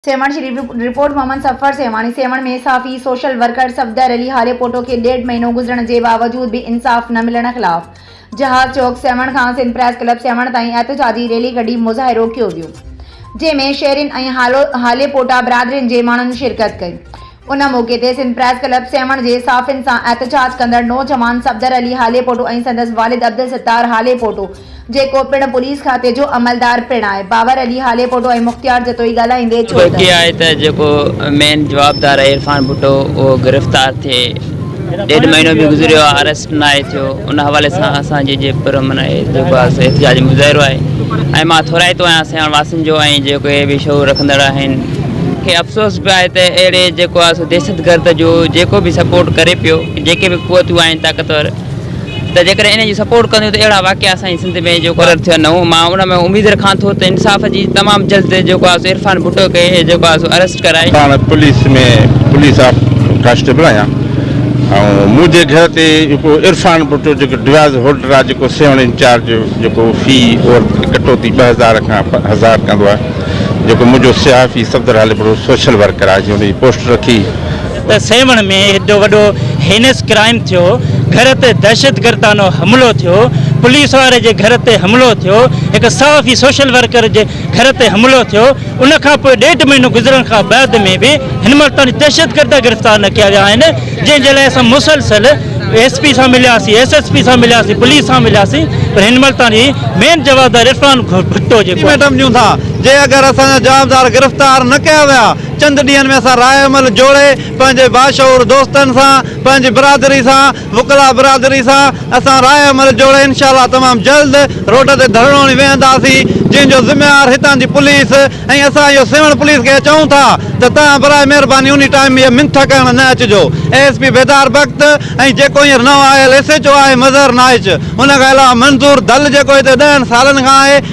Sehwan, Sharif report, Muhammad Safar Sehwani, Sehwan ۾ صحافي، social worker Safdar Ali Halepoto کي ڏيڍ مهينو گذرڻ جي باوجود به انصاف نه ملڻ خلاف جهاز چوڪ سيوهڻ کان سنڌ پريس ڪلب سيوهڻ تائين احتجاجي ريلي ڪڍي مظاهرو ڪيو ويو جنهن ۾ شهرين ۽ هاليپوٽا برادرين جي ماڻهن شرڪت ڪئي ان موقعي تي سنڌ پريس ڪلب سيوهڻ جي صحافين سان احتجاج ڪندڙ نوجوان صفدر علي هاليپوٽو ۽ سندس والد عبدالستار هاليپوٽو جيڪو پڻ پوليس کاتي جو عملدار پڻ آهي باور علي هاليپوٽو ۽ مختيار جتوئي ڳالهائيندي چيو ته. توڪي آهي ته جيڪو مين جوابدار عرفان ڀٽو اهو گرفتار ٿئي. ڏيڍ مهينو به گذريو آهي اريسٽ ناهي ٿيو ان حوالي سان اسان جي جي پر امن آهي جيڪو آهي سو احتجاجي مظاهرو آهي ۽ مان ٿورائتو آهيان سيوهڻ واسين جو ۽ جيڪي به شعور رکندڙ آهن کي افسوس به آهي ته اهڙي جيڪو آهي سو دهشتگرد جو جيڪو به سپورٽ ڪري پيو جيڪي به قوتون آهن طاقتور ته جيڪڏهن ان جي سپورٽ ڪنديون ته اهڙا واقعا اسان جي سنڌ ۾ جيڪو آهي ٿين نه مان ان ۾ اميد رکان ٿو ته انصاف جي تمام جلد جيڪو آهي سو عرفان ڀٽو کي جيڪو آهي سو اريسٽ ڪرائي. پاڻ پوليس ۾ پوليس آف ڪانسٽيبل آهيان ۽ منهنجي گهر تي جيڪو عرفان ڀٽو جيڪو ڊوياز هولڊر آهي جيڪو سيون انچارج جيڪو في اور ڪٽوتي ٻه هزار کان هزار ڪندو آهي جيڪو منهنجو صحافي صفدر هاليپور سوشل ورڪر آهي جنهن ان جي پوسٽ رکي ته سيوهڻ ۾ ايڏو وڏو هينس ڪرائيم ٿيو، گهر تي دهشتگردانو حملو ٿيو، پوليس واري جي گهر تي حملو ٿيو، هڪ صحافي سوشل ورڪر جي گهر تي حملو ٿيو، ان کان پوء ڏيڍ مهينو گذرڻ کان بعد ۾ به هن مهل تائين دهشتگرد گرفتار نه ڪيا ويا آهن، جنهن جي لاء اسان مسلسل ايس پي سان ملياسين، ايس ايس پي سان ملياسين، پوليس سان ملياسين پر هن مهل تائين مين جوابدار عرفان ڀٽو جيڪو آهي. ۽ ميڊم ڏيون ٿا جي اگر اسان جا جوابدار گرفتار نه ڪيا ويا چند ڏينهن ۾ اسان راء عمل جوڙي پنهنجي باشعور دوستن سان، پنهنجي برادري سان، وڪلا برادري سان اسان راء عمل جوڙي انشاء الله تمام جلد روڊ تي ڌرڻو هڻي ويهنداسين جنهن جو ذميوار هتان جي پوليس ۽ اسان اهو سيوهڻ پوليس کي چئون ٿا ته توهان برائي مهرباني انهي ٽائيم هيء منٿ ڪرڻ نه اچجو A S P Bedar Bakht ۽ جيڪو هينئر نئون آيل ايس ايچ او آهي مظهر نائچ ان کان علاوه منظور دل جيڪو هتي ڏهن سالن کان آهي